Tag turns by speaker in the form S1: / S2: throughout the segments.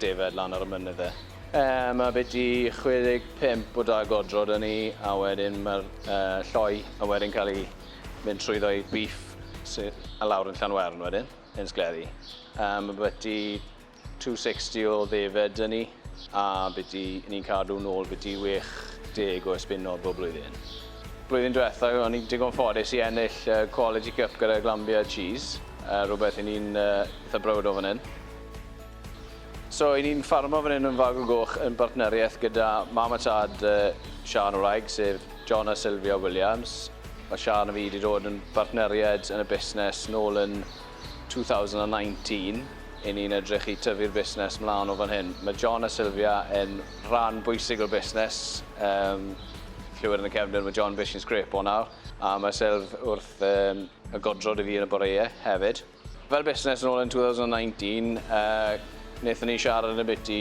S1: Defaid lan ar y mynydd de. Yy ma biti 65 o da godro da ni a wedyn ma'r yy lloi a wedyn cael ei mynd trwyddo i beef sy a lawr yn Llanwern wedyn yn sgleri. Yy ma biti 260 o ddefed da ni a biti ni'n cadw nôl biti 60 o esbunod bob blwyddyn. Blwyddyn diwetha o'n i'n digon ffodus i ennill yy quality cup gyda Glanbia cheese yy rwbeth i ni'n yy itha browd o fan hyn. So, 'y ni'n ffarmo fan hyn yn Fag y Goch yn bartneriaeth gyda mam a tad Siân y wraig, sef John a Sylvia Williams. Mae Siân a fi 'di dod yn bartneriaid yn y busnes nôl yn 2019. 'Yn ni'n edrych i tyfu'r busnes mlân o fan hyn. Mae John a Sylvia yn rhan bwysig o'r busnes. Yym, clywed yn y cefndir ma' John bishyn sgrêp o nawr, a ma' Sylv wrth yym y godro 'da fi yn y boreue hefyd. Fel busnes yn ôl yn 2019, wnaethon ni siarad yn biti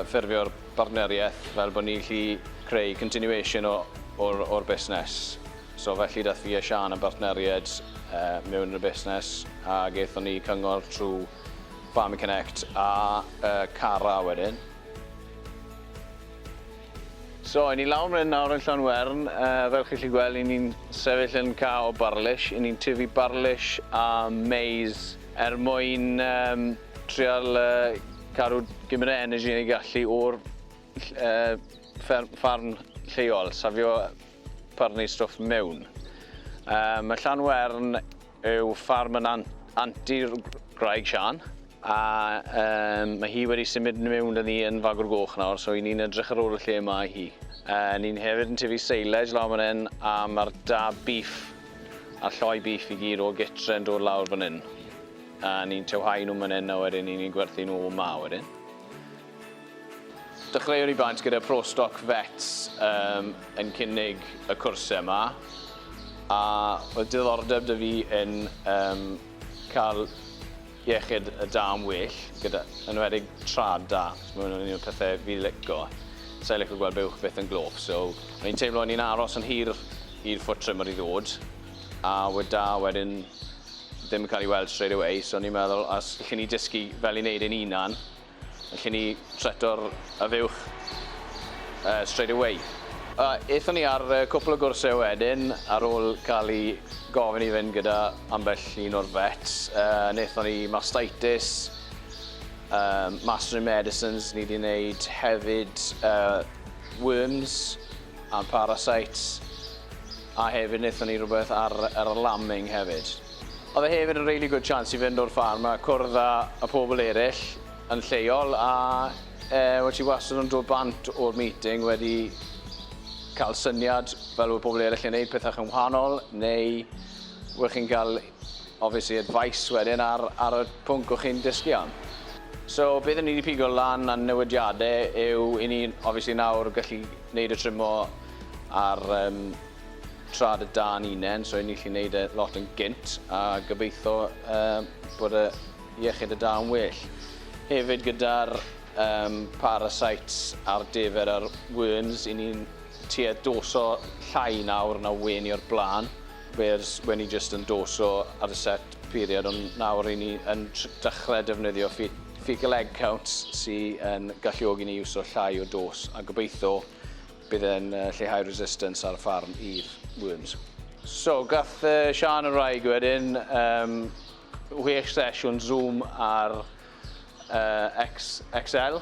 S1: ffurfio'r bartneriaeth fel bod ni'n gallu creu continuation o'r busnes. So felly daeth fi a Siân yn bartneriaid mewn yn y busnes a gaethon ni cyngor trwy Farming Connect a Cara wedyn. So, i ni lawr myn nawr yn Llanwern, uh, fel chi'n lli gweld, i ni'n sefyll yn ca o barlish, i ni'n tyfu barlish a maize er mwyn um, trial uh, cadw gymryd o energy yn ei gallu o'r uh, farn lleol, safio parni stwff mewn. Uh, mae Llanwern yw ffarm yn an- antur gwraig Siân a yym mae hi wedi symud miwn 'da ni yn Fagur Goch nawr so 'yn ni'n edrych ar ôl y lle yma i hi. Yy ni'n hefyd yn tyfu silage lawr man 'yn a ma'r da beef a'r lloi beef i gyd o gytre yn dod lawr fan 'yn a ni'n tywhau nhw man 'yn a wedyn 'yn ni'n gwerthu nhw 'ma wedyn. Dechreuwn i blant gyda Pro Stoc Vets um, yn cynnig y cwrsau yma a oedd diddordeb dy fi yn um, cael iechyd y da yn well, gyda, yn enwedig trad da. Mae hwnna'n un o'r pethau fi licio. Sa'n licio gweld buwch byth yn glof, so o'n i'n teimlo o'n i'n aros yn hir i'r foot trimmer i ddod, a wedi da wedyn ddim yn cael ei weld straight away, so o'n i'n meddwl, os lle ni dysgu fel i wneud ein unan, Felly ni treto'r y fuwch yy straight away. A ethon ni ar yy cwpl o gwrsau wedyn ar ôl ca'l i gofyn i fynd gyda ambell un o'r vets yy nethon ni mastitis yym master in medicines ni 'di neud hefyd yy worms and parasites. A hefyd nethon ni rwbeth ar yr lambing hefyd. Oedd e hefyd yn rili gwd chance i fynd o'r ffarm a cwrdd â y pobl eryll yn lleol a yy wel ti wastad yn dod bant o'r meeting wedi ca'l syniad fel oedd pobl eryll yn neud pethach yn wahanol neu wel chi'n ga'l obviously advice wedyn ar ar y pwnc o chi'n dysgu am. So beth o'n i 'di pigo lan a'n newidiade yw i ni obviously nawr gallu neud y trimo ar um, trad y dan unen, so i ni gallu neud e lot yn gynt a gobeithio uh, bod y iechyd y da yn well. Hefyd gyda'r um, parasites a'r defer a'r worms, i ni'n tuedd doso llai nawr na wen i o'r blaen. Wales wedi jyst endoso ar y set period ond nawr ry'n ni yn dechrau defnyddio fecal egg counts sy yn galluogi ni iwso llai o dos a gobeithio bydd e'n lleihau resistance ar y ffarm i'r worms. So, gath Siân y wraig wedyn um, wech sesiwn Zoom ar uh, XXL,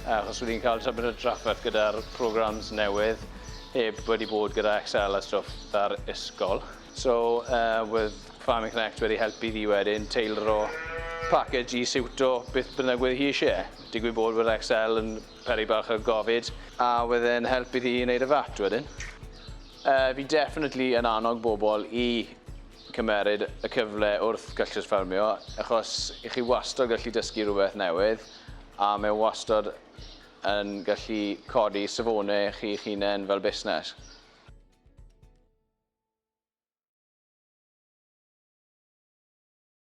S1: achos wedi cael tybed y drafferth gyda'r programs newydd heb wedi bod gyda XL a stwff ar ysgol. So, uh, with Farming Connect wedi helpu fi wedyn teilro package i siwto beth bynnag wedi hi eisiau. Digwydd bod bod XL yn peri bach o gofid, a wedyn helpu hi i wneud y fat wedyn. Uh, fi definitely yn annog bobl i Cymeryd y cyfle wrth gystlys ffermio achos i chi wastod gallu dysgu rhywbeth newydd a mae wastod yn gallu codi safonau chi'ch hunain fel busnes.